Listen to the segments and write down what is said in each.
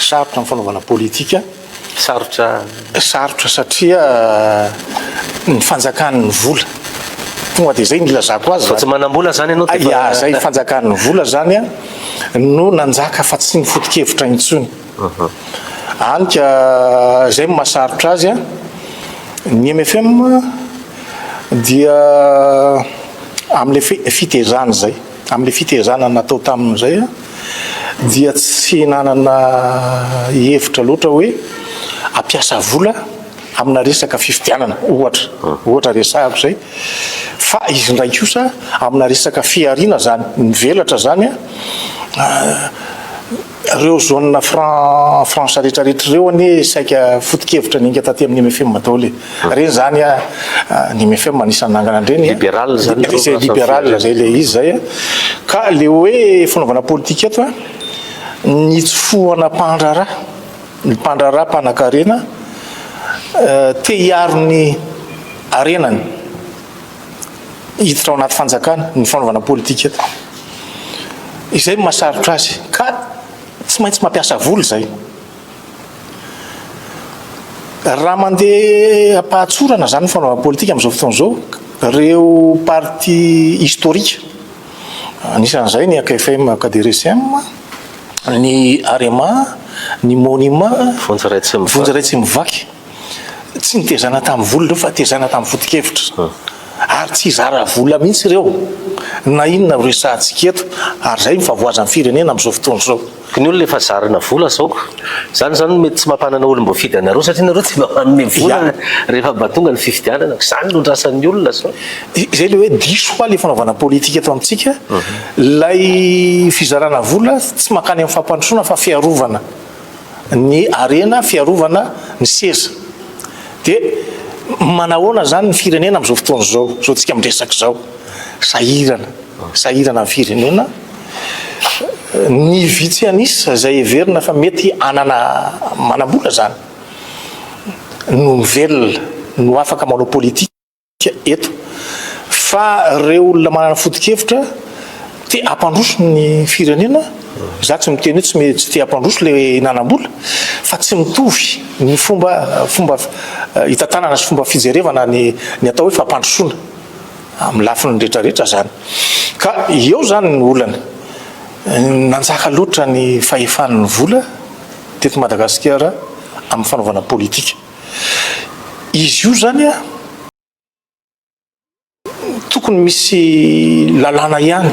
Sarotra ny fanaovana politika. Sarotra? Sarotra satria ny fanjakan'ny vola. Tonga dia izay no ilazako azy. Fa tsy manam-bola izany ianao dia efa. Izay fanjakan'ny vola izany no nanjaka fa tsy ny foto-kevitra intsony. Hany ka izay no mahasarotra azy. Ny mfm dia amin'ilay fitezany izay. Amin'ilay fitaizana natao taminy izay dia tsy nanana hevitra loatra hoe hampiasa vola amina resaka fifidianana ohatra, ohatra resahako izay, fa izy indray kosa amina resaka fihariana izany, mivelatra izany an, Reo zone franc franche rehetra rehetra reo anie saika foto-kevitra niainga taty amin'ny MFM daholo e. Reny zany a ny MFM anisan'ny nangana an'ireny. Liberal zany reo Izay liberal zay le izy zay a. Ka le hoe fanaovana politika eto a, ny tsy fohana mpandraharaha, ny mpandraharaha mpanakarena te hiaro ny harenany. hiditra ao anaty fanjakana ny fanaovana politika eto. Izay no mahasarotra azy ka tsy maintsy mampiasa vola izay. Raha mandeha am-pahatsorana izany ny fanaovana politika amin'izao fotoana izao, ireo parti historique, anisan'izay ny AKFM, AKDRSM, ny Arema, ny Monima, Vonjy Ratsimivaky. Tsy nitezana tamin'ny vola ireo fa tezana tamin'ny foto-kevitra. Ary tsy hizara vola mihitsy ireo na inona no resahantsika eto ary izay no favoazan'ny firenena amin'izao fotoana izao. Ny olona efa zarina vola zao ko. Zany zany no mety tsy mampanana olom boafidy anareo satria nareo tsy mba manome vola rehefa mba tonga ny fifidianana ko. Zany no andrasan'ny olona zao. Izay le hoe diso hoa le fanaovana politika eto amintsika. Lay fizarana vola tsy mankany amin'ny fampandrosoana fa fiarovana. ny harena fiarovana ny seza dia manahoana izany ny firenena amin'izao fotoana izao, izao tsika miresaka izao, sahirana, sahirana ny firenena, ny vitsy an'isa izay heverina fa mety hanana manam-bola izany no velona, no afaka manao politika. eto fa reo olona manana foto-kevitra te hampandroso ny firenena za tsy miteny hoe tsy te hampandroso le nanam-bola fa tsy mitovy ny fomba fomba eh, hitantanana sy fomba fijerevana ny ny atao hoe fampandrosoana amin'ny lafiny rehetrarehetra zany ka eo zany ny olana nanjaka loatra ny fahefan'ny vola teto madagasikara amin'ny fanaovana politika Izy io zany a, tokony misy lalàna ihany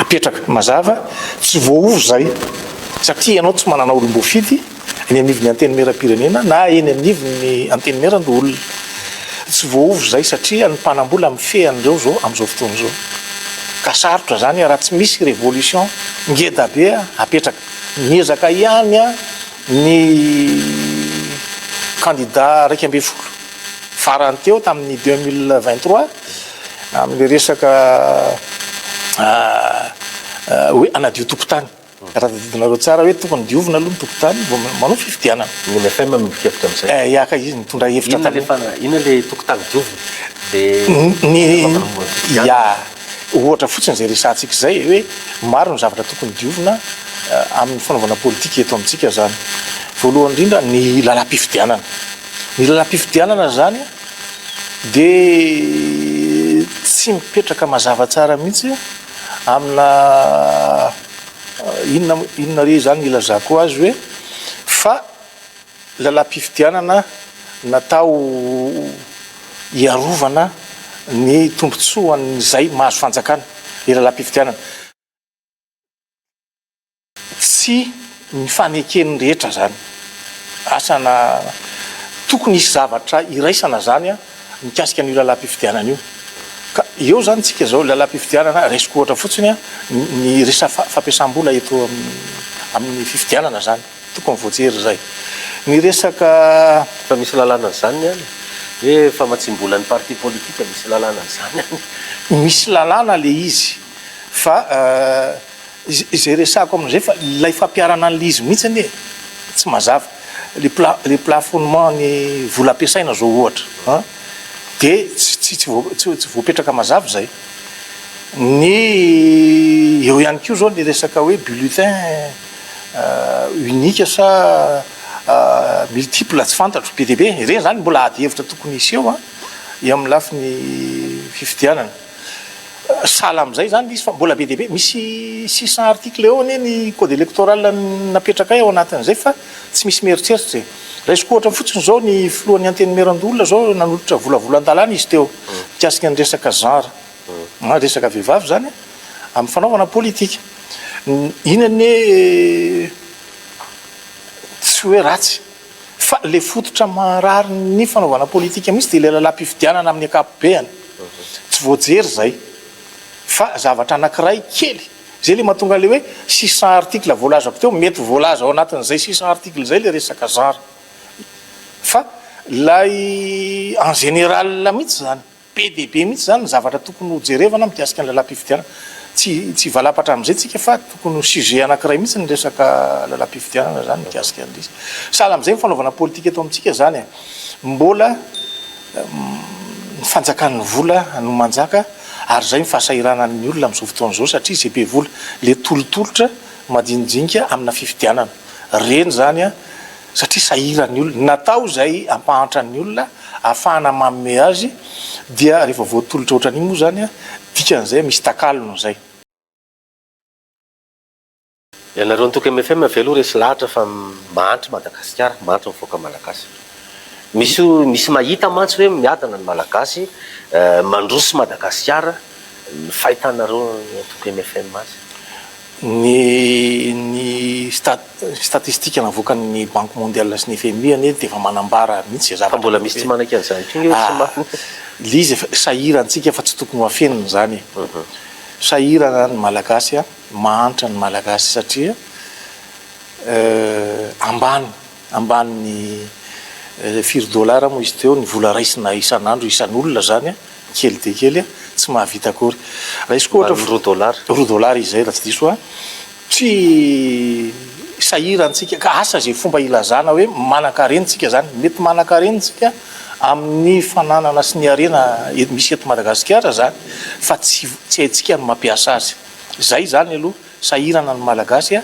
apetraka mazava, tsy voaova izay satria ianao tsy manana olom-boafidy eny anivon'ny Antenimierampirenena na eny anivon'ny Antenimierandoholona. Tsy voaova izay satria ny mpanam-bola mifehy an'ireo izao amin'izao fotoana izao. Ka sarotra izany raha tsy misy révolution ngeda be apetraka. Miezaka ihany a. Ny kandida iraika ambin'ny folo farany teo tamin'ny deux mille vingt trois amin'ilay resaka hoe hanadio tokontany. Raha tadidinareo tsara hoe tokony diovina aloha ny tokontany vao manao fifidianana. Ny mfm no nikepitra amin'izay. Eh, ya ka, izy nitondra hevitra tamin'iny. Inona ilay tokotany diovina? Dia ny fanapahambohoana ny fifidianana? Ya. Ohatra fotsiny izay resahantsika izay hoe maro ny zavatra tokony diovina amin'ny fanaovana politika eto amintsika izany. Voalohany indrindra ny lalam-pifidianana. Ny lalam-pifidianana izany dia tsy mipetraka mazava tsara mihitsy amina inona inona re izany ilazako azy hoe fa Lalam-pifidianana natao hiarovana ny tombontsoan'izay mahazo fanjakana ny lalam-pifidianana. Tsy ny faneken'ny rehetra izany. Asana tokony hisy zavatra iraisana izany mikasika an'io lalam-pifidianana io. Ka eo izany tsika izao lalam-pifidianana raisiko ohatra fotsiny ny resaka fampiasam-bola eto amin'ny fifidianana izany. Tokony voajery izay. Ny resaka fa misy lalàna an'izany ny any hoe famatsiam-bola ny parti politique misy lalàna an'izany any. Misy lalàna ilay izy fa izay resahako amin'izay fa ilay fampiharana an'ilay izy mihitsy anie tsy mazava. Ilay plafonnement ny vola ampiasaina izao ohatra an dia tsy voapetraka mazava izay. Ny eo ihany koa izao ny resaka hoe bulletin. unique sa multiple tsy fantatro be dia be ireny zany mbola ady hevitra tokony hiseho an eo amin'ny lafiny fifidianana sahala amin'izay zany izy fa mbola be dia be misy six cent article eo anie ny code électoral napetrakay ao anatin'izay fa tsy misy mieritreritra e raisiko ohatra fotsiny zao ny filohan'ny antenimierandoholona zao nanolotra volavolan-dalàna izy teo mikasika ny resaka genre Maro resaka vehivavy izany amin'ny fanaovana politika. Iny anie tsy hoe ratsy fa ilay fototra maharary ny fanaovana politika mihitsy dia ilay lalam-pifidianana amin'ny ankapobeany. Tsy voajery izay fa zavatra anankiray kely izay ilay mahatonga an'ilay hoe six cent articles voalazako teo, mety voalaza ao anatin'izay six cent articles izay ilay resaka zara fa ilay en général mihitsy izany. Be dia be mihitsy izany ny zavatra tokony ho jerevana mikasika ny lalam-pifidianana. Tsy tsy hivalapatra amin'izay tsika fa tokony ho sujet anankiray mihitsy ny resaka lalam-pifidianana izany mikasika ny lisy. Sahala amin'izay ny fanaovana politika eto amintsika izany e. Mbola ny fanjakan'ny vola no manjaka ary izay ny fahasahiranan'ny olona amin'izao fotoana izao satria izay be vola, ilay tolotolotra madinidinika amina fifidianana. Ireny izany an! satria sahiran'ny olona, natao izay hampahantra ny olona, hahafahana manome azy, dia rehefa voatolotra ohatran'iny moa izany, dikan'izay misy takalony izay. Ianareo antoko mfm ve aloha resy lahatra fa mahantra Madagasikara, mahantra ny vahoaka Malagasy. Misy misy mahita mantsy hoe miadana ny Malagasy, mandroso Madagasikara, ny fahitanareo antoko mfm azy. Ny ny statistika navoakan'ny Banque Mondiale sy ny fmi anie dia efa manambara mihitsy izay zavatra. Fa mbola misy tsy manaiky an'izany intsony hoe tsy marina. Lzy efa sahirantsika fa tsy tokony ho afenina izany e. Sahirana ny Malagasy a, mahantra ny Malagasy satria ambany. Ambany firy dollars moa izy teo ny vola raisina isan'andro isan'olona zany an, kely dia kely an, tsy mahavita akory. Raisiko ohatra fa. Ambany roa dollars. Roa dollars izay raha tsy diso an. Tsy sahirantsika ka asa izay fomba ilazana hoe manankarena tsika zany. Mety manankarena tsika amin'ny fananana sy ny harena misy eto Madagasikara zany fa tsy tsy haintsika ny mampiasa azy. Zay zany aloha Sahirana ny Malagasy a!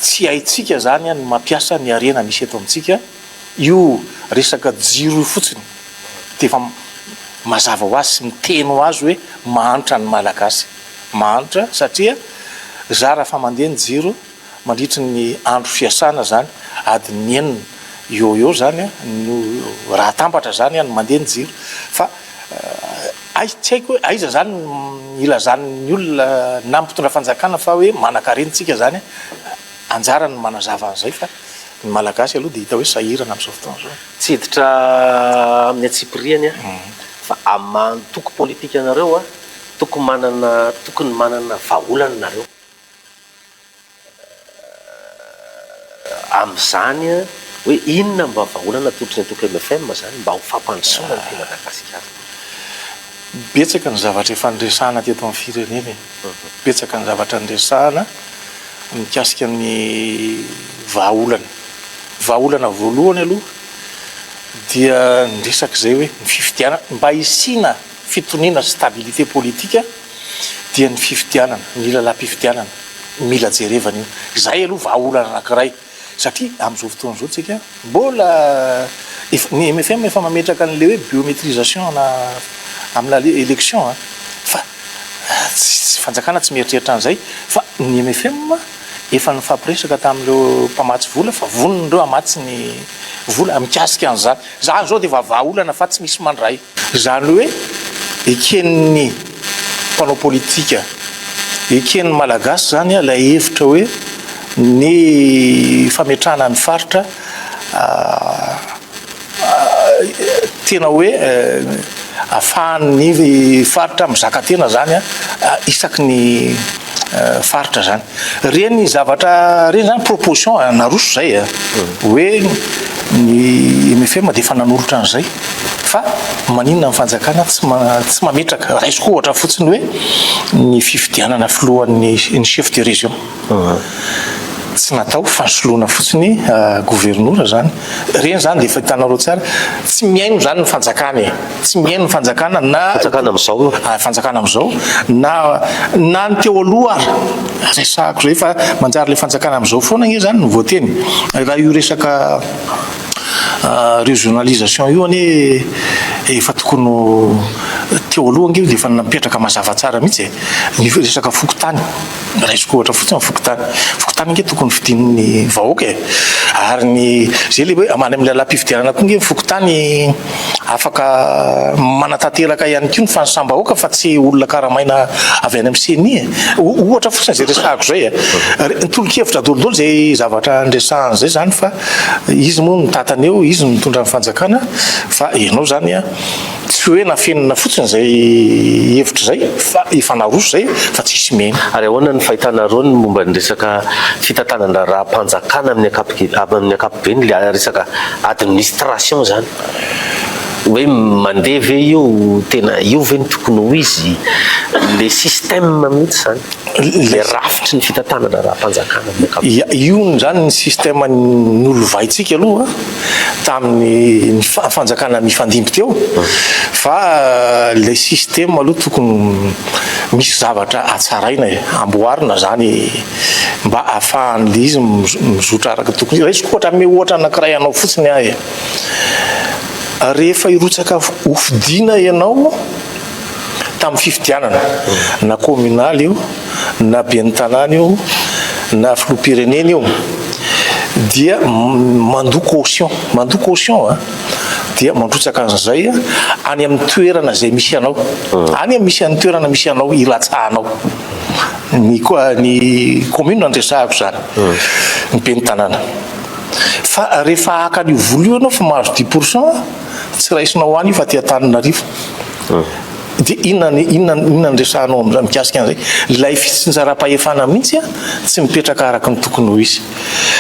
Tsy haintsika zany ny mampiasa ny harena misy eto amintsika, io resaka jiro io fotsiny defa mazava ho azy sy miteny ho azy hoe mahantra ny Malagasy, mahantra satria za raha fa mandeha ny jiro mandritry ny andro fiasana zany adin'ny enina eo ho eo zany no raha atambatra zany no mandeha ny jiro fa Aiza, tsy haiko hoe aiza izany no ilazan'ny olona na mpitondra fanjakana fa hoe manankarena isika izany an! anjarany ny manazava an'izay fa ny Malagasy aloha dia hita hoe sahirana amin'izao fotoana izao. Tsy hiditra amin'ny antsipiriany aho fa amin'ny antoko politikanareo tokony manana tokony manana vahaolana nareo. Amin'izany hoe inona mba vahaolana atolotry ny antoko mfm zany mba ho fampandrosoana ny Madagascar. Betsaka ny zavatra efa niresahana teto amin'ny firenena e. Betsaka ny zavatra niresahana mikasika ny vahaolana. Vahaolana voalohany aloha dia ny resak'izay hoe ny fifidianana, mba hisiana fitoniana, stabilité politique, dia ny fifidianana, ny lalam-pifidianana no mila jerevana io. Izay aloha vahaolana anankiray satria amin'izao fotoana izao tsika mbola efa, ny mfm efa mametraka an'ilay hoe biométrisation ana amin'ny lale, élection a! fa tsy, tsy, fanjakana tsy mieritreritra an'izay fa ny mfm efa nifampiresaka tamin'ireo mpamatsy vola fa vonona ireo hamatsy ny vola mikasika an'izany. Izany izao dia efa vahaolana fa tsy misy mandray. Izany hoe eken'ny mpanao politika, eken'ny Malagasy izany ilay hevitra hoe ny fametrahana ny faritra tena hoe afahan'ny faritra mizaka tena izany isaky ny faritra izany. Reny zavatra reny zany proposition naroso zay a, hoe ny mfm dia efa nanolotra an'izay, fa maninona ny fanjakana tsy tsy mametraka, raisiko ohatra fotsiny hoe ny fifidianana filohan'ny ny chef de région, tsy natao fa soloina fotsiny governora zany. Ireny izany dia efa hitanareo tsara, tsy mihaino izany ny fanjakana e, tsy mihaino ny fanjakana na fanjakana amin'izao, ah, fanjakana amin'izao na na ny teo aloha ary resahako izay fa manjary ilay fanjakana amin'izao foana anie izany no voateny. Raha io resaka ah, régionalisation io anie efa tokony ho teo aloha ange io dia efa napetraka mazava tsara mihitsy e, ny resaka fokontany. Raisiko ohatra fotsiny ny fokontany. Fokontany ange tokony fidin'ny vahoaka e. Ary ny zay le hoe amany amin'ny lalam-pifidianana koa ange ny fokontany afaka manatanteraka ihany koa ny fanisam-bahoaka fa tsy olona karamaina avy any amin'ny ceni e. Ohatra fotsiny izay resahako izay e. Ny tolo-kevitra daholo daholo izay zavatra niresahana izay izany fa izy moa no mitantana eo, izy no mitondra ny fanjakana fa ianao izany Tsy hoe nafenina fotsiny izay hevitra izay fa efa naroso izay fa tsy hisy mihena. Ary ahoana ny fahitanareo ny momba ny resaka fitantanan-draharaham-panjakana amin'ny ankapobeny, ilay resaka administration izany? Hoe mandeha ve io? Tena io ve no tokony ho izy? Ilay système mihitsy izany, ilay rafitry ny fitantanan-draharaham-panjakana amin'ny ankapobeny. Ia, io izany ny système nolovaintsika aloha. tamin'ny fanjakana nifandimby teo fa ilay système aloha tokony misy zavatra atsaraina e, amboarina izany mba ahafahan'ilay izy mizotra araka tokony. Raisiko ohatra, hanome ohatra anankiray anao fotsiny aho e. Rehefa hirotsaka hofidiana ianao, tamin'ny fifidianana, na kaominaly io, na ben'ny tanàna io, na filoham-pirenena io, dia mandoa caution, mandoa caution a, dia mandrotsaka an'izay any amin'ny toerana izay misy anao, hmm. any amin'ny misy an'ny toerana misy anao ilatsahanao ny ny commune ny resahako izany, hmm. ny ben'ny tanàna. Fa rehefa haka an'io vola io ianao fa mahazo dix pourcent, Tsy raisina ho any io fa aty Antananarivo. Dia inona ny inona ny inona ny resahanao amin'izay mikasika an'izay? Ilay fitsinjaram-pahefana mihitsy an, tsy mipetraka araka ny tokony ho izy.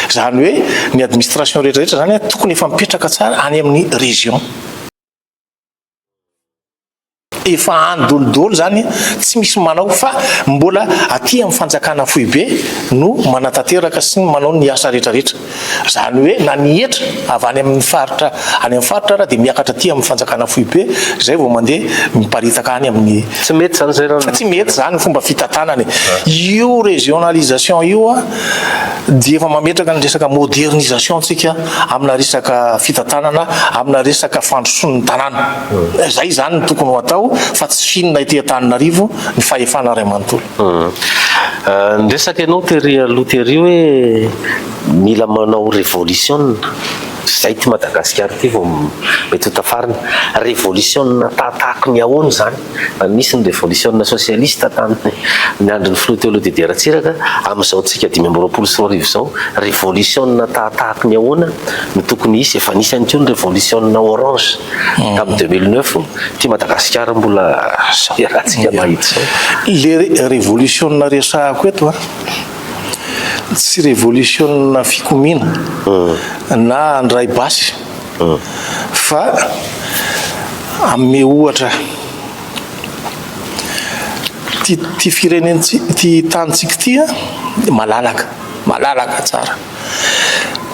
Izany hoe ny administration rehetra rehetra izany an, tokony efa mipetraka tsara any amin'ny région. efa any dolidoly zany tsy misy manao fa mbola aty amin'ny fanjakana foibe no manatanteraka sy ny manao ny asa rehetra rehetra zany hoe na ny hetra avy any amin'ny faritra any amin'ny faritra raha dia miakatra aty amin'ny fanjakana foibe zay vao mandeha miparitaka any amin'ny tsy mety zany zay raha tsy mety zany fomba fitantanana io régionalisation io a dia efa mametraka ny resaka modernisation tsika amina resaka fitantanana amina resaka fandrosoan'ny tanàna Izay izany no tokony ho atao fa tsy finina ety Antananarivo ny fahefana iray manontolo. Ny resaka ianao tery aloha tery hoe mila manao revolisiona, izay ity Madagasikara ity vao mety ho tafarina. Revolisiona tahatahaky ny ahoana izany? Nisy ny revolisiona sosialista tamin'ny andron'ny filoha Teolo Didier Ratsiraka, amin'izao antsika dimy amby roapolo sy roa arivo izao, revolisiona tahatahaky ny ahoana no tokony hisy? Efa nisy ihany koa ny revolisiona orange. tamin'ny deux mille neuf ity Madagasikara mbola zao iarahantsika mahita zao. Le revolisiona resahako eto a, tsy revolisiona fikomiana hmm. na handray basy hmm. fa ame ohatra ty firenentsika ty tanitsika ty a malalaka malalaka tsara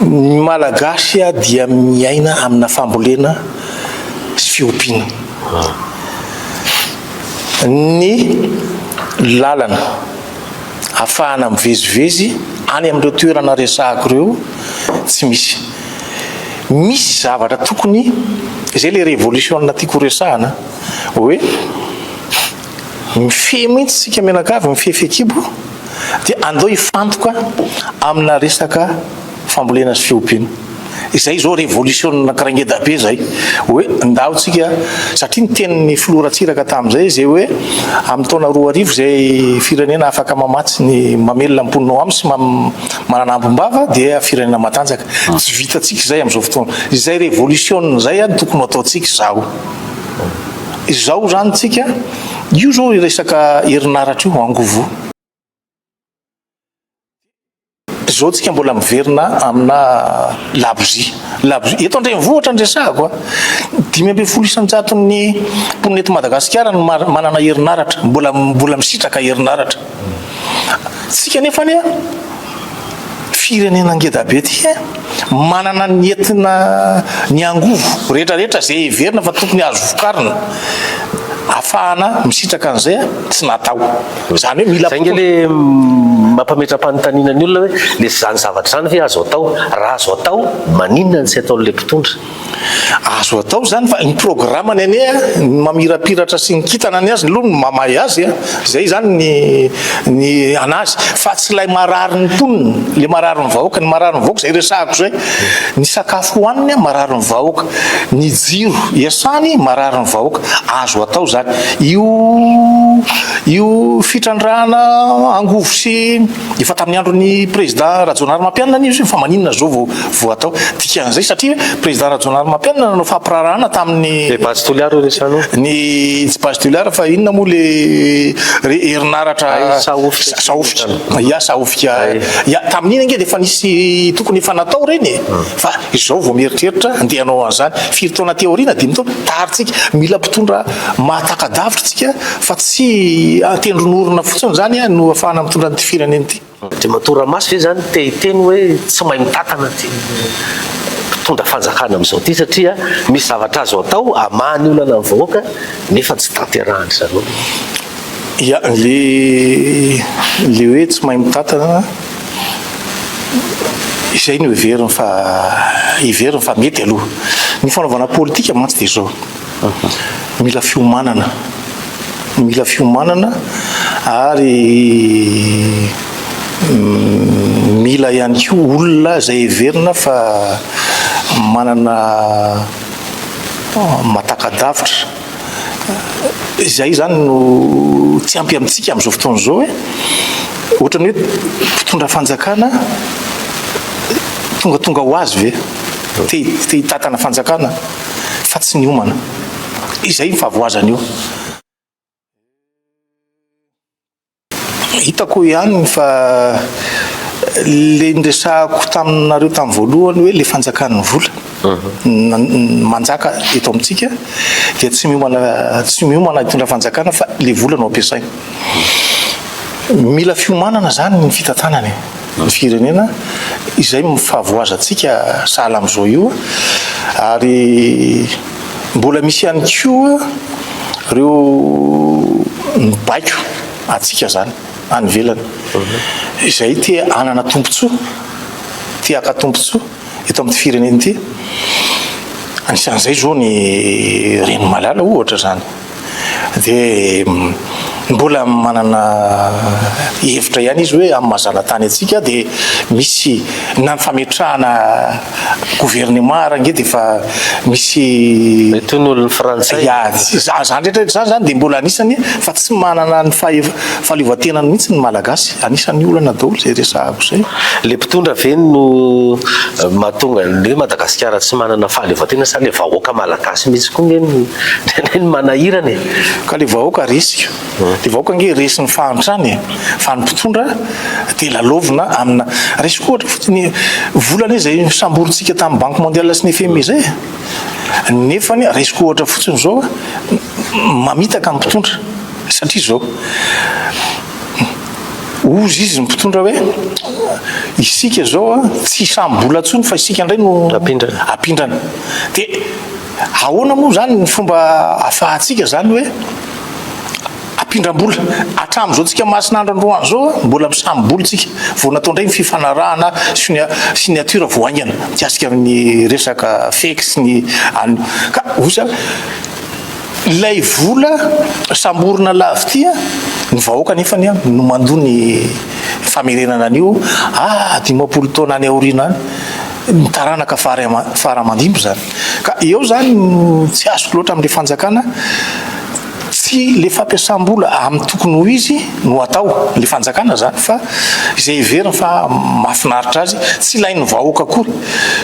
Ny Malagasy dia miaina amina fambolena sy fiompiana. Ny lalana afahana mivezivezy any amin'ireo toerana resahako ireo tsy misy. Misy zavatra tokony, izay ilay revolisiona tiako horesahana hoe, Mifehy mihitsy isika mianakavy, mifehy fehikibo, dia andao hifantoka amina resaka fambolena sy fiompiana. Izay izao révolution anankiray ngeda be izay, hoe ndao tsika, satria ny tenin'ny filoha Ratsiraka tamin'izay izay hoe amin'ny taona roa arivo izay firenena afaka mamatsy ny mamelona ny mponinao aminy sy manana ambom-bava dia firenena matanjaka. Tsy vitantsika izay amin'izao fotoana. Izay révolution izay no tokony ho ataontsika izaho. Izao izany tsika, io izao resaka herinaratra io angovo. Izao tsika mbola miverina amina labozia, labozia. Eto an-drenivohitra ny resahako a, dimy ambin'ny folo isan-jaton'ny mponina eto Madagasikara no manana herinaratra, mbola mbola misitraka herinaratra. Tsika nefa anie. Firenena ngeda be ty eh! Manana ny entina ny angovo rehetra rehetra ze heverina fa tokony azo vokarina afahana misitraka an'izay ah! Tsy natao zany hoe mila. Zay nge le mampametra-panontaniana ny olona hoe le zany zavatra zany ve azo atao? Raha azo atao maninona no tsy ataon'le mpitondra? Azo atao izany fa ny programany anie a, ny mamirapiratra sy ny kintana ny azy aloha no mamay azy a, izay izany ny ny an'azy fa tsy ilay marary ny mponina, ilay marary ny vahoaka, ny marary ny vahoaka izay resahako izay, ny sakafo hohaniny a marary ny vahoaka, ny jiro iasany marary ny vahoaka, azo atao izany. Io io fitrandrahana angovo sy. Efa tamin'ny andron'ny Prezidà Rajaonarimampianina anie izy io fa maninona izao vao vao atao dikan'izay satria Prezidà Rajaonarimampianina nanao fampirarahana tamin'ny Le base Toliara hoy resano o. Ny tsy base Toliara fa inona moa le re herinaratra Ay, Sahofika Sahofika Sahofika. Ia Sahofika Ay. Ia tamin'iny ange dia efa nisy tokony efa natao ireny e. Fa izao vao mieritreritra andeha hanao an'izany. Firy taona aty aoriana? Dimy taona? Tary tsika. Mila mpitondra mahataka-davitra tsika Fa tsy an-tendron'orona fotsiny izany no ahafahana mitondra an'ity firenena ity. Andriamatoa Ramasy ve izany te hiteny hoe tsy mahay mitatana ity mpitondra fanjakana amin'izao ity satria misy zavatra azo atao hamaha ny olana ny vahoaka nefa tsy tanterahany zareo ve? Ia, le le hoe tsy mahay mitatana izay no heveriny fa heveriny fa mety aloha. Ny fanaovana politika mantsy dia izao. Mila fiomanana, mila fiomanana ary mila ihany koa olona izay heverina fa manana matakadavitra, izay izany no tsy ampy amintsika amin'izao fotoana izao e, ohatra ny hoe mpitondra fanjakana tongatonga ho azy ve te te hitatana fanjakana? fa tsy niomana. Izay ny fahavoazana io. Hitako ihany ny fa le niresahako taminareo tamin'ny voalohany hoe le fanjakan'ny vola mhm. manjaka eto amintsika dia tsy miomana tsy miomana hitondra fanjakana fa le vola no ampiasaina. Mila fiomanana zany ny fitantanana e. ny firenena izay mifavoazantsika sahala amin'izao io ary mbola misy ihany koa ireo mibaiko antsika izany any ivelany izay te hanana tombontsoa te haka tombontsoa eto amin'ny firenena ity anisan'izay izao ny reny malala ohatra izany Dia mbola manana hevitra ihany izy hoe amin'ny maha zanatany antsika dia misy na ny fametrahana gouvernement ary ange dia efa misy Mety ho ny frantsay. Ya, izany rehetra rehetra izany zany dia mbola anisany fa tsy manana ny fahaleovantena mihitsy ny malagasy. Anisany olana daholo izay resahako izay. Le mpitondra ve no mahatonga ny hoe Madagasikara tsy manana fahaleovantena sa le vahoaka malagasy mihitsy koa nge no Tena ny manahirana e! Ka le vahoaka resy ka. Le vahoaka ange resy ny fahantrana e! Fa ny mpitondra dia lalaovina amina. Raisiko ohatra fotsiny vola anie izay samborintsika tamin'ny banque mondiale sy ny FMI izay e! Nefany raisiko ohatra fotsiny izao mamitaka ny mpitondra satria izao ozy izy ny mpitondra hoe isika izao tsy hisambola intsony fa isika indray no apindrana. Dia Ahoana moa izany ny fomba ahafahantsika izany hoe ampindram-bola? Hatramin'izao tsika Masinandro androany izao mbola misami-bola tsika vao natao indray ny fifanarahana signature vao haingana mikasika ny resaka fex ny an'ny ka osa ilay vola samborina lavity ny vahoaka nefa ny no mandoa ny famerenana an'io ah dimampolo taona any aoriana any ny taranaka fara aman-dimby izany. Ka eo izany no tsy azoko loatra amin'ilay fanjakana, tsy ilay fampiasam-bola amin'ny tokony ho izy no atao, ilay fanjakana izany fa izay heveriny fa mahafinaritra azy, tsy ilain'ny vahoaka akory.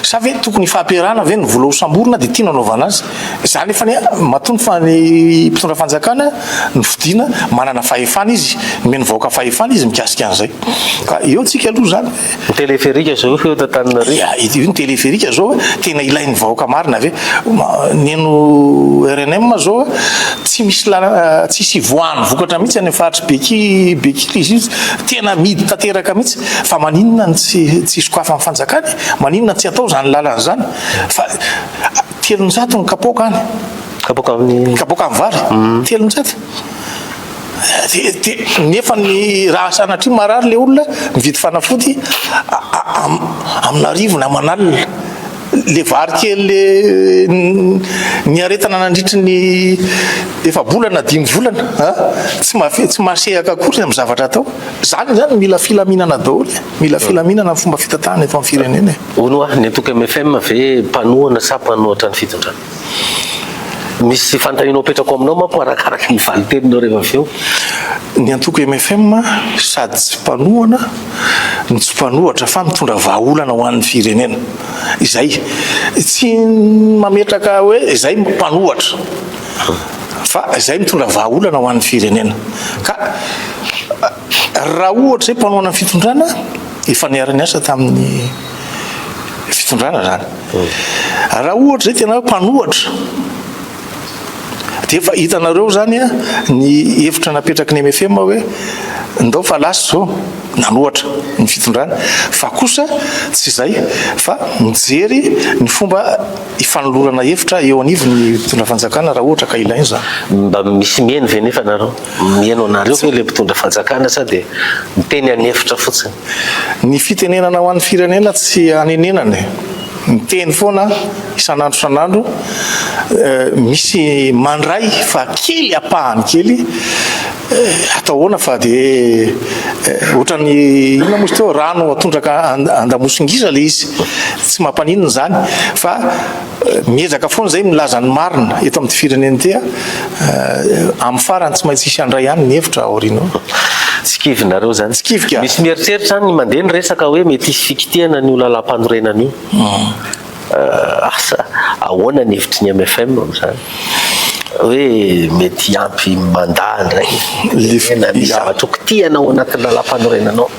Sa ve tokony ifampiarahana ve ny vola ho samborina dia ity no anaovana azy? Izany efa ny matoa fa ny mpitondra fanjakana no fidiana, manana fahefana izy, nomen'ny vahoaka fahefana izy mikasika an'izay. Ka eo tsika aloha izany. Ny téléphérique zao eto Antananarivo. Ya, io ny téléphérique zao tena ilain'ny vahoaka marina ve? Ny an'ny rnm zao tsy misy lalana, tsisy hivoahany vokatra mihitsy any amin'ny faritry Beky, Beky toy izy io, tena amidy tanteraka mihitsy, fa maninona no tsy tsy sokafan'ny fanjakana e? Maninona tsy atao zany lalana izany? Fa telonjato ny kapoaka any. Kapoaka amin'ny. Kapoaka amin'ny vary? Telonjato. nefa ny raha sanatria marary le olona mividy fanafody amina arivo na aman'alina le vary kely le ny aretana nandritry ny efa bolana dimy volana a tsy mafe tsy masehaka akory amin'ny zavatra atao zany zany mila filaminana daholo mila filaminana fomba fitatahana eto amin'ny firenena e. Ono ah, ny antoko MFM ve mpanohana sa mpanohatra ny fitondrana? Misy fanontaniana hopetrako aminao manko arakaraka ny valin-teninao rehefa avy eo. Ny antoko mfm sady tsy mpanohana no tsy mpanohatra fa mitondra vahaolana ho an'ny firenena. Izay. Tsy mametraka hoe izay mpanohatra fa izay mitondra vahaolana ho an'ny firenena. Ka. Raha ohatra izay mpanohana ny fitondrana, efa niara-niasa tamin'ny fitondrana izany. Raha ohatra izay tena hoe mpanohatra, dia efa hitanareo izany ny hevitra napetraky ny MFM hoe ndao fa lasa izao nanohatra ny fitondrana, fa kosa tsy izay fa mijery ny fomba hifanolorana hevitra eo anivon'ny mpitondra fanjakana raha ohatra ka ilaina izany. Mba misy mihaino ve nefa nareo? Mihaino anareo ve ilay mpitondra fanjakana sa dia miteny an'efitra fotsiny? Ny fitenenana ho an'ny firenena tsy anenenana e! Miteny foana isan'andro isan'andro, misy mandray fa kely ampahany kely, atao ahoana fa dia ohatran'ny inona moa izy teo? Rano atondraka an-damosingisa ilay izy, tsy mampaninona izany fa. Miezaka foana izay milaza ny marina eto amin'ity firenena ity a. Amin'ny farany tsy maintsy hisy handray ihany ny hevitra aoriana. Tsy kivinareo zany. Tsy kivy ka. Misy mieritreritra zany ny mandeha ny resaka hoe mety hisy fikitihana an'io lalàmpanorenana io. Asa ahoana ny hevitry ny mfm amin'izany? Hoe mety hiampy mandat indray na misy zavatra ho kitihana ao anatin'ny lalàmpanorenana ao?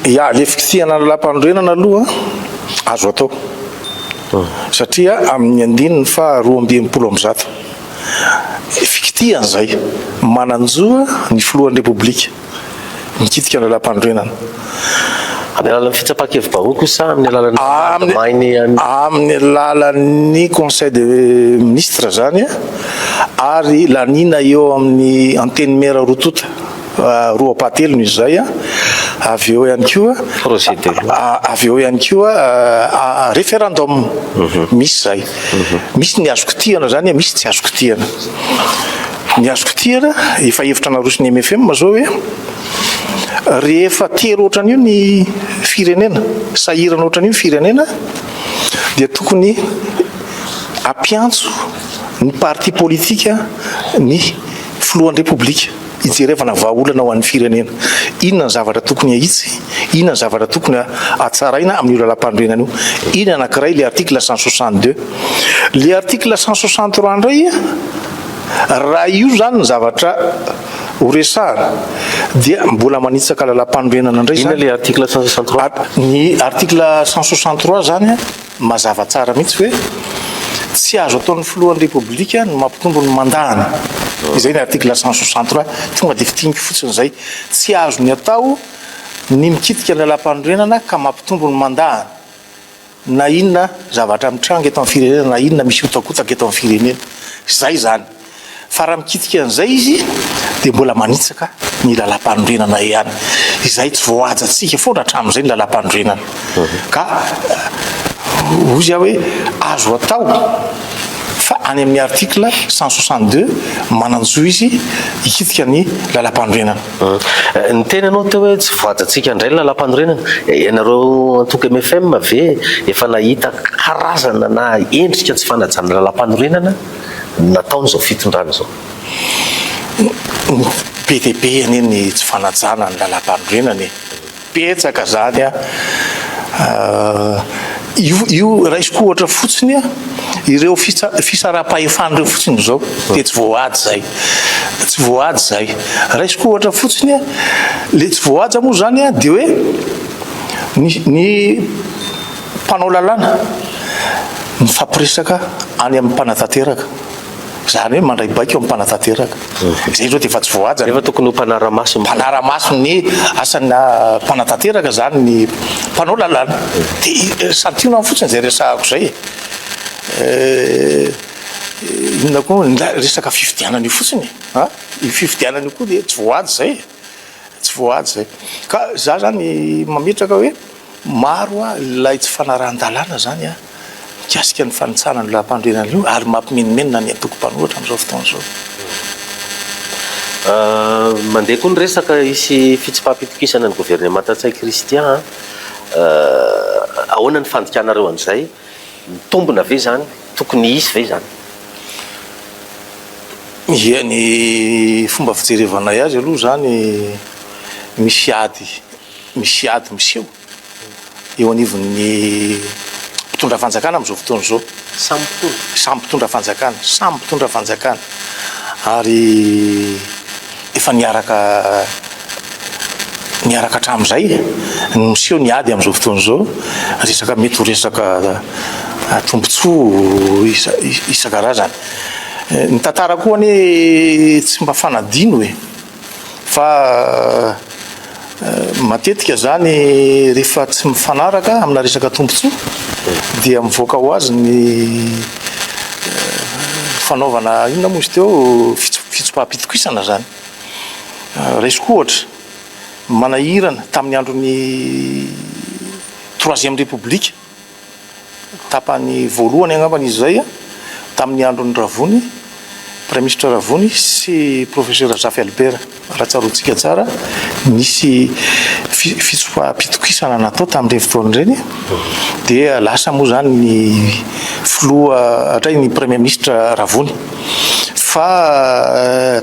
Ya, ilay fikitihana ny lalàmpanorenana aloha azo atao. Satria amin' ny andininy faha roa amby enimpolo amby zato, fikitihana izay, manan-jo ny Filohan'ny Repoblika mikitika ny Lalàmpanorenana. Amin'ny alalan'ny fitsapan-kevi-bahoaka io sa amin'ny alalan'ny mpitandro ady main' ny any? Amin'ny alalan'ny Conseil des Ministres izany ary laniana eo amin'ny Antenimiera roa tonta. roapahatelony izay avy eo ihany koa projet de loi avy eo ihany koa référendum mhm. misy zay mhm. misy ny azo kitihana zany misy tsy azo kitihana ny azo kitihana efa hevitra narosony MFM zao hoe rehefa tery ohatran'io ny firenena sahirana ohatran'io ny firenena dia tokony ampiantso ny parti politika ny filohan'ny repoblika Hijerevana vahaolana ho an'ny firenena. Inona ny zavatra tokony ahitsy? Inona ny zavatra tokony hatsaraina amin'io lalàmpanorenana io? Iny anankiray ilay article cent soixante deux. Ilay article cent soixante trois indray, raha io izany ny zavatra horesahana dia mbola manitsaka lalàmpanorenana indray izany. Inona ilay article cent soixante trois? Ny article cent soixante trois izany. Mazava tsara mihitsy hoe tsy azo ataon'ny filohan'ny Repoblika ny mampitombo ny mandany. Izay ny article cent soixante trois. Tonga dia fintiniko fotsiny izay. Tsy azony atao ny mikitika ny lalàmpanorenana ka mampitombo ny mandany na inona zavatra mitranga eto amin'ny firenena na inona misy hotakotaka eto amin'ny firenena. Izay izany. Fa raha mikitika an'izay izy dia mbola manitsaka ny lalam-panorenana ihany. Izay tsy voahajantsika foana hatramin'izay ny lalam-panorenana. Ka hoy izy hoe azo atao fa any amin'ny article 162 manan-jo izy hikitika ny lalam-panorenana. Hmm. Ny teny anao teo hoe tsy voajantsika indray ny lalam-panorenana. Ianareo antoko MFM ve efa nahita karazana na endrika tsy fanajana lalam-panorenana? ny nataon'izao fitondrana izao. Be dia be anie ny tsy fanajana ny lalam-panorenana e! Betsaka izany an! Io raisiko ohatra fotsiny an, ireo fisarampahefana ireo fotsiny izao dia tsy voahaja izay. Tsy voahaja izay. Raisiko ohatra fotsiny an, ilay tsy voahaja moa izany an dia hoe ny ny. Mpanao lalàna mifampiresaka any amin'ny mpanatanteraka, izany hoe mandray baiko amin'ny mpanatanteraka. Izay aloha dia efa tsy voahaja. Nefa tokony ho mpanara-maso. Mpanara-maso ny asan'ny mpanatanteraka izany ny mpanao lalàna. Dia santionany fotsiny izay resahako izay e. Inona koa? Ny resaka fifidianana io fotsiny e. An? Io fifidianana io koa dia tsy voahaja izay e. Tsy voahaja izay. Ka izaho izany mametraka hoe. Maro ny lay tsy fanarahan-dalàna izany mikasika ny fanitsahana an'io lahampanorenana io ary mampimenomenona ny antoko mpanohitra amin'izao fotoana izao. Mandeha koa ny resaka hisy fitsipaham-pitokisana ny governemanta Ntsay Christian an! Ahoana ny fandikanareo an'izay? Mitombina ve izany? Tokony hisy ve izany? Ia, ny fomba fijerevanay azy aloha izany misy ady Misy ady miseho eo anivon'ny mpitondra fanjakana amin'izao fotoana izao. Samy mpitondra. Samy mpitondra fanjakana, samy mpitondra fanjakana ary efa niaraka niaraka hatramin'izay no miseho ny ady amin'izao fotoana izao. Resaka mety ho resaka tombontsoa isan-karazany. Ny tantara koa anie tsy mba fanadino e! Fa matetika izany rehefa tsy mifanaraka amina resaka tombontsoa dia mivoaka ho azy ny fanaovana inona moa izy teo fitsopaham-pitokisana izany. Raisiko ohatra, manahirana tamin'ny andron'ny troisième république Tapany voalohany angambany izy izay tamin'ny andron'i Ravony, Praiminisitra Ravony sy Profesera Zafy Albert. Raha tsaroantsika tsara, nisy fitsopaham-pitokisana natao tamin'ireny fotoana ireny dia lasa moa izany ny Filoha hatray ny Praiminisitra Ravony. Fa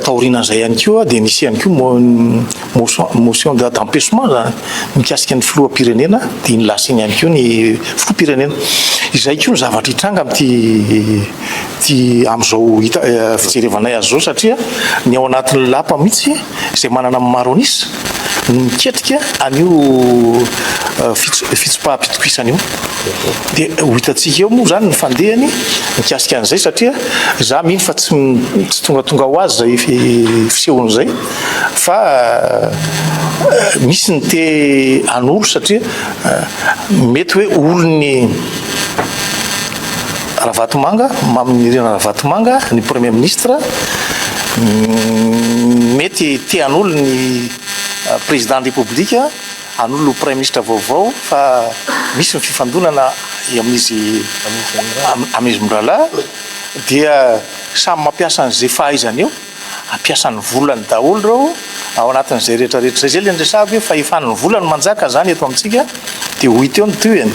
taorianan'izay ihany koa dia nisy ihany koa Motion d'empêchement zany mikasika ny filoham-pirenena dia ny lasiany ihany koa ny filoham-pirenena. Izay koa ny zavatra hitranga amin'ity ity amin'izao hita fijerevanay azy izao satria ny ao anatin'ny lapa mihitsy izay manana amin'ny maro an'isa no miketrika an'io fitsipaham-pitokisana io. Dia ho hitantsika eo moa izany ny fandehany mikasika an'izay satria za mino fa tsy tsy tongatonga ho azy izay fisehon'izay. fa misy ny te anoro satria mety hoe olon'ny Ravatomanga, maminirina Ravatomanga, ny Premier Ministre, mm, mety te hanolo ny euh, Président de République, hanolo Premier Ministre vaovao, fa misy ny fifandonana amin'izy amin'izy miralahy, dia samy mampiasa an'izay fahaizany eo. Ampiasa ny volany daholo ireo ao anatin'izay rehetra rehetra izay, zay ilay niresahako hoe fahefan'ny vola no manjaka izany eto amintsika dia ho hita eo ny tohiny,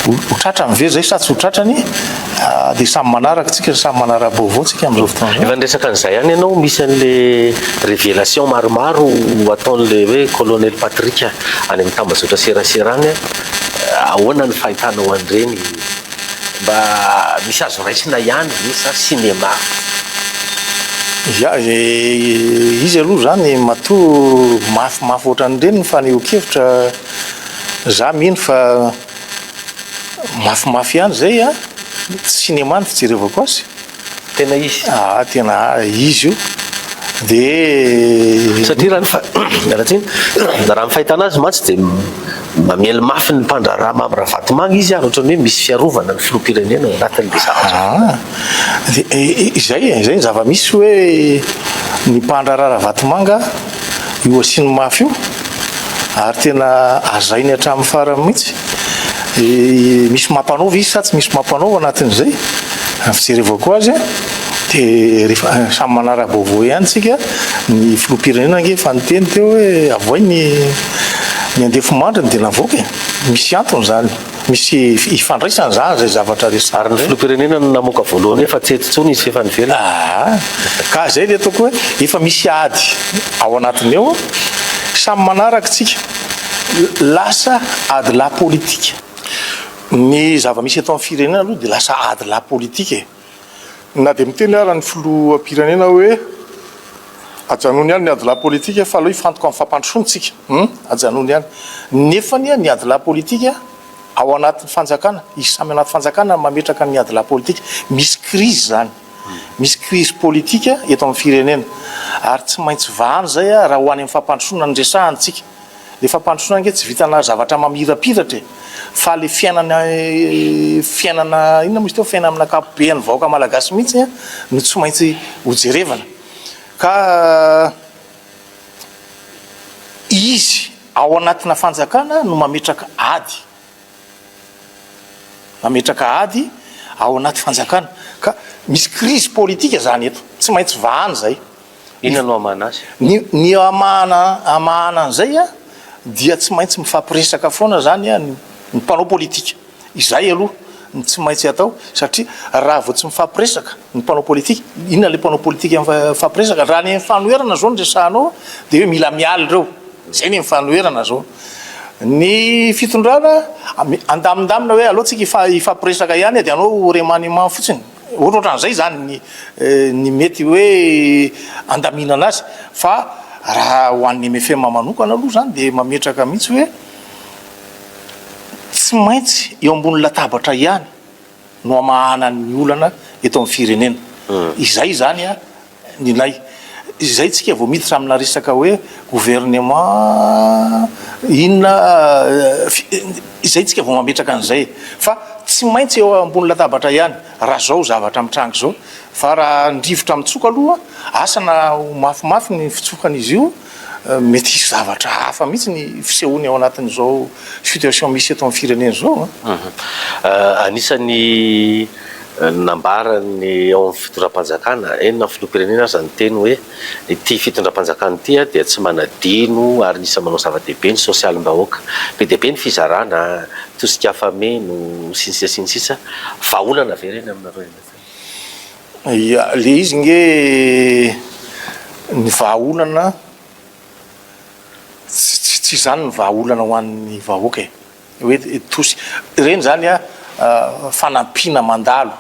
ho tratrany ve izay sa tsy ho tratrany dia samy manaraka tsika, samy manara-baovao tsika amin'izao fotoana izao. Efa niresaka an'izay ihany ianao, misy an'le révélation maromaro ataon'le hoe Colonel Patrick any amin'ny tambazotra serasera any, ahoana ny fahitanao an'ireny? Mba misy azo raisina ihany ve sa cinéma? Ya ve izy aloha izany matoa mafimafy ohatran'ireny ny fanehoan-kevitra, za mino fa mafimafy ihany izay an, cinéma no fijerevako azy. Tena izy. Aa tena izy io dia. Satria raha ny miala tsiny raha ny fahitana azy mantsy dia mamely mafy ny mpandraharaha Mamy Ravatomanga izy ary ohatran'ny hoe misy fiarovana ny filoham-pirenena ao anatin'ilay zavatra. Aa dia izay e, izay ny zava-misy hoe ny mpandraharaha Ravatomanga. io asiany mafy io ary tena azainy hatramin'ny farany mihitsy misy mampanaova izy sa tsy misy mampanaova anatin'izay fijerevako azy de rehefa samy manara-baovao ihany tsika ny filohampirenena ange fa niteny teo hoe avohay ny ny andefo mandriny de navoaka e misy antony zany misy ifandraisany zany izay zavatra resahiny ireny. Ary ny filoham-pirenena no namoaka voalohany hoe fa tsy eto intsony izy f'efa any ivelany. Aa! Ka izay ilay ataoko hoe efa misy ady ao anatiny ao, samy manaraka tsika, lasa ady lahy politika. Ny zava-misy eto amin'ny firenena aloha dia lasa ady lahy politika e! Na dia miteny ara ny filoham-pirenena hoe ajanony ihany ny adilahy politika fa aleo hifantoka amin'ny fampandrosoana isika hum ajanony ihany nefa anie ny adilahy politika ao anatin'ny fanjakana izy samy anaty fanjakana no mametraka ny adilahy politika misy krizy izany misy krizy politika eto amin'ny firenena ary tsy maintsy vahana izay raha ho any amin'ny fampandrosoana no resahana isika Le fampandrosoana ange tsy vitana zavatra mamirapiratra e! Fa le fiainana fiainana inona moa izy teo fiainana amin'ny ankapobean'ny vahoaka malagasy mihitsy no tsy maintsy ho jerevana ka izy ao anatina fanjakana no mametraka ady Mametraka ady ao anaty fanjakana ka misy krizy politika izany eto. Tsy maintsy vahana izay. Inona no hamahana azy? Ny ny hamahana hamahana an'izay dia tsy maintsy mifampiresaka foana izany ny ny mpanao politika. Izay aloha no tsy maintsy atao satria raha vao tsy mifampiresaka ny mpanao politika, inona ilay mpanao politika mifampiresaka? Raha ny fanoherana izao no resahanao dia hoe mila miala ireo. Izay ny fanoherana izao. Ny fitondrana andamindamina hoe aleo tsika hifampiresaka ihany e, dia anao ho remaniement fotsiny. Ohatra ohatran'izay izany ny mety hoe andaminana azy. Fa raha ho an'ny mfm manokana aloha izany dia mametraka mihitsy hoe tsy maintsy eo ambony latabatra ihany no hamahana ny olana eto amin'ny firenena. Izay izany an! Nilay. Izay tsika vao miditra amina resaka hoe gouvernement inona, izay tsika vao mametraka an'izay. Fa tsy maintsy eo ambony latabatra ihany, raha zao zavatra mitranga izao. Fa raha ny rivotra mitsoka aloha, asa na ho mafimafy ny fitsokan'izy io, Mety hisy zavatra hafa mihitsy ny fisehoany ao anatin'izao situation misy eto amin'ny firenena izao an! Anisan'ny nambaran'ny ao amin'ny fitondram-panjakana, eny na filoham-pirenena aza, niteny hoe ity fitondram-panjakana ity dia tsy manadino ary anisan'ny manao zava-dehibe ny sosialim-bahoaka. Be dia be ny fizarana, tosika afa-meno, sy ny sisa sy ny sisa. Vahaolana ve ireny aminareo? Ia, ilay izy ange ny vahaolana, tsy izany ny vahaolana ho an'ny vahoaka e, hoe tosy. Ireny izany an, fanampiana mandalo,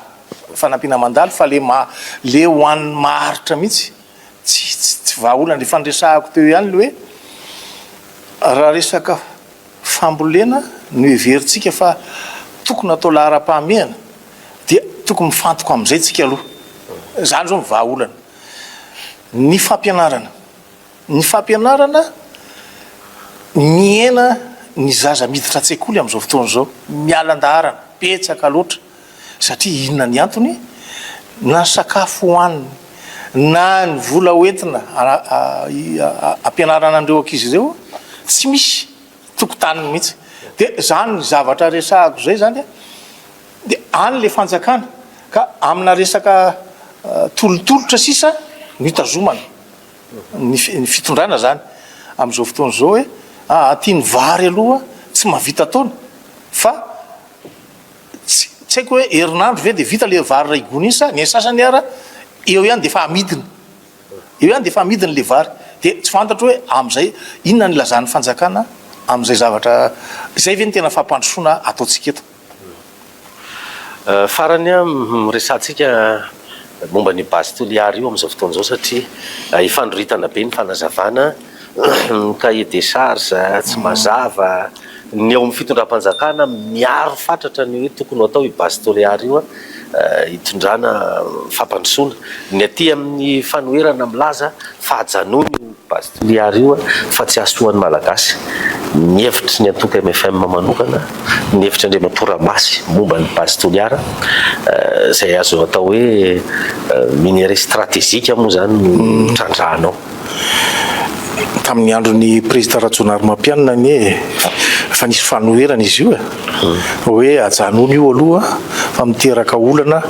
fanampiana mandalo fa ilay maha, ilay ho an'ny maharitra mihitsy, tsy vahaolana. Efa niresahako teo ihany ilay hoe, raha resaka. fambolena no heverintsika fa tokony hatao laharam-pahamehana dia tokony mifantoka amin'izay tsika aloha. Izany izao no vahaolana. Ny fampianarana. Ny fampianarana mihena ny zaza miditra an-tsekoly amin'izao fotoana izao. Miala an-daharana. Betsaka loatra. Satria inona ny antony? Na ny sakafo hohaniny, na ny vola hoentina hampianarana an'ireo ankizy ireo, tsy misy tokotaniny mihitsy. Dia izany zavatra resahako izay izany dia any ilay fanjakana ka amina resaka tolotolotra sisa no hitazomana ny fitondrana izany amin'izao fotoana izao hoe aty ny vary aloha tsy mahavita taona fa Tsy haiko hoe herinandro ve dia vita ilay vary iray gony iny sa ny sasany ara eo ihany dia efa amidiny. Eo ihany dia efa amidiny ilay vary. Dia tsy fantatro hoe amin'izay inona no ilazan'ny fanjakana amin'izay zavatra izay ve no tena fampandrosoana ataontsika eto. Farany an, resahantsika momba an'io base Toliary io amin'izao fotoana izao satria ifandroritana be ny fanazavana. Ny cahier des charges tsy mazava, ny ao amin'ny fitondram-panjakana miaro fatratra ny hoe tokony ho atao io base Toliara io hitondrana fampandrosoana, ny aty amin'ny fanoherana milaza fa ajanony io base Toliara io fa tsy hahasoa ny Malagasy, ny hevitry ny antoko mfm manokana, ny hevitry Andriamatoa Ramasy momba ny base Toliara izay azo atao hoe minerais stratégique moa izany no trandrahanao. tamin'ny andron'ny prezida Rajonarimampianina anie e. Efa nisy fanoherana izy io e. Hoe ajanony io aloha fa miteraka olana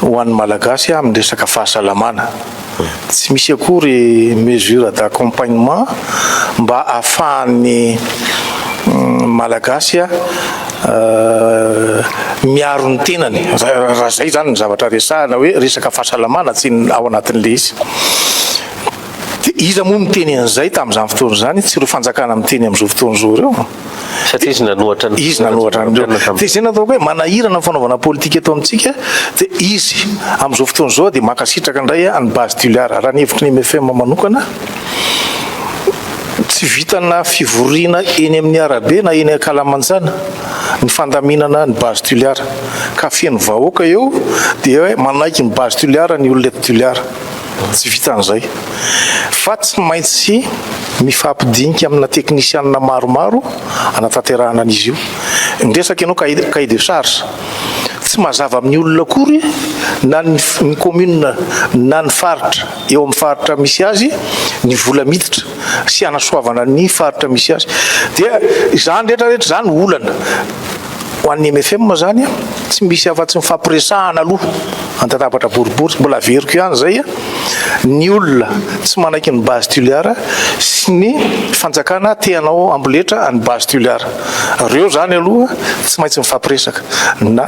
ho an'ny Malagasy amin'ny resaka fahasalamana. Tsy misy akory mesure d'accompagnement mba ahafahan'ny Malagasy miaro ny tenany raha izay izany ny zavatra resahana hoe resaka fahasalamana tsy ao anatin'ilay izy dia iza moa miteny an'izay tamin'izany fotoana izany tsy ireo fanjakana miteny amin'izao fotoana izao ireo satria izy nanohatra ny izy nanohatra an'ireo dia izay nataoko hoe manahirana ny fanaovana politika eto amintsika dia izy amin'izao fotoana izao dia mankasitraka indray an'i Base Tuliar raha ny hevitry ny MFM manokana Tsy vitanà fivoriana eny amin'ny arabe na eny ankalamanjana ny fandaminana ny base Toliara ka feno vahoaka eo dia hoe manaiky ny base Toliara ny olona eto Toliara. Tsy vitan'izay fa tsy maintsy mifampidinika amina teknisianina maromaro anatanterahana an'izy io. Ny resaka ianao cahier de charge tsy mazava amin'ny olona akory na ny commune na ny faritra. eo amin'ny faritra misy azy ny vola miditra sy hanasoavana ny faritra misy azy. Dia izany rehetra rehetra izany olana ho an'ny MFM izany a, tsy misy afa-tsy ny fampiresahana aloha andatabatra boribory, mbola averiko ihany izay a, ny olona tsy manaiky ny base Tuliar sy ny fanjakana te hanao amboletra an'ny base Tuliar. Ireo izany aloha tsy maintsy mifampiresaka na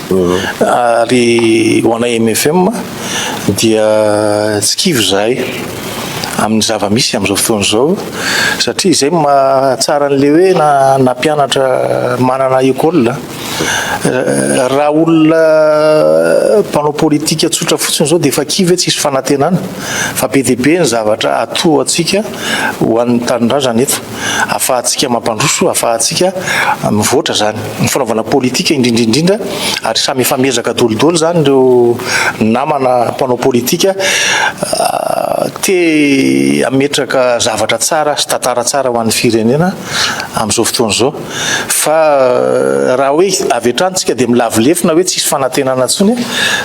ary ho anay mfm dia tsy kivy izahay amin'ny zava-misy amin'izao fotoana izao satria izay no mahatsara an'ilay hoe na na mpianatra manana école raha olona mpanao politika tsotra fotsiny izao dia efa kivy hoe tsisy fanantenana fa be dia be ny zavatra atoantsika ho an'ny tanindrazana eto ahafahantsika mampandroso, ahafahantsika mivoatra izany. Ny fanaovana politika indrindra indrindra, ary samy efa miezaka daholo izany ireo namana mpanao politika te hametraka zavatra tsara sy tantara tsara ho an'ny firenena amin'izao fotoana izao. Fa raha hoe avy hatrany isika dia milavo lefona hoe tsisy fanantenana intsony,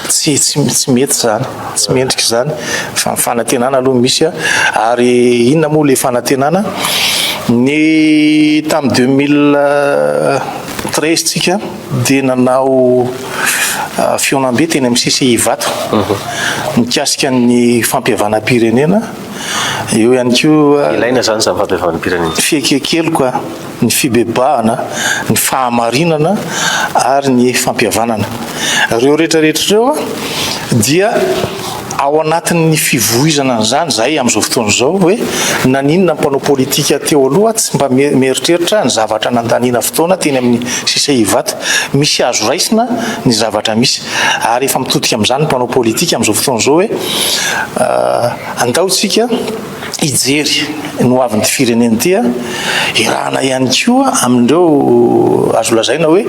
tsy mety izany. Tsy mendrika izany fa ny fanantenana aloha no misy ary inona moa ilay fanantenana? Ny tamin'ny 2013 tsika dia nanao ah, fihaonambe teny amin'ny CCI Ivato mhm. mikasika ny fampihavanam-pirenena eo ihany koa ilaina izany izany fampihavanam-pirenena fiekekeloka ny fibebahana, ny fahamarinana ary ny fampihavanana. Ireo rehetra rehetra ireo dia ao anatin'ny fivoizana an'izany izahay amin'izao fotoana izao hoe naninona ny mpanao politika teo aloha tsy mba mieritreritra ny zavatra nandaniana fotoana teny amin'ny sisa Ivato. Misy azo raisina ny zavatra misy ary efa mitodika amin'izany ny mpanao politika amin'izao fotoana izao hoe andao isika hijery ny hoavin'ity firenena ity, iarahana ihany koa amin'ireo azo lazaina hoe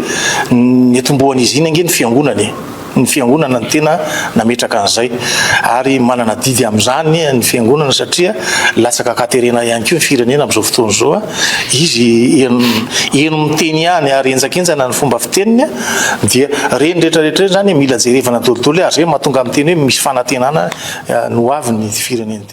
niatombohan'izy iny ange ny fiangonana e! ny fiangonana no tena nametraka an'izay ary manana adidy amin'izany ny fiangonana satria latsaka ankaterena ihany koa ny firenena amin'izao fotoana izao, izy heno miteny ihany ary henjakenjana ny fomba fiteniny dia ireny rehetrarehetra ireny izany mila jerevana daholo daholo ary izay no mahatonga miteny hoe misy fanantenana ny hoavin'ity firenena ity.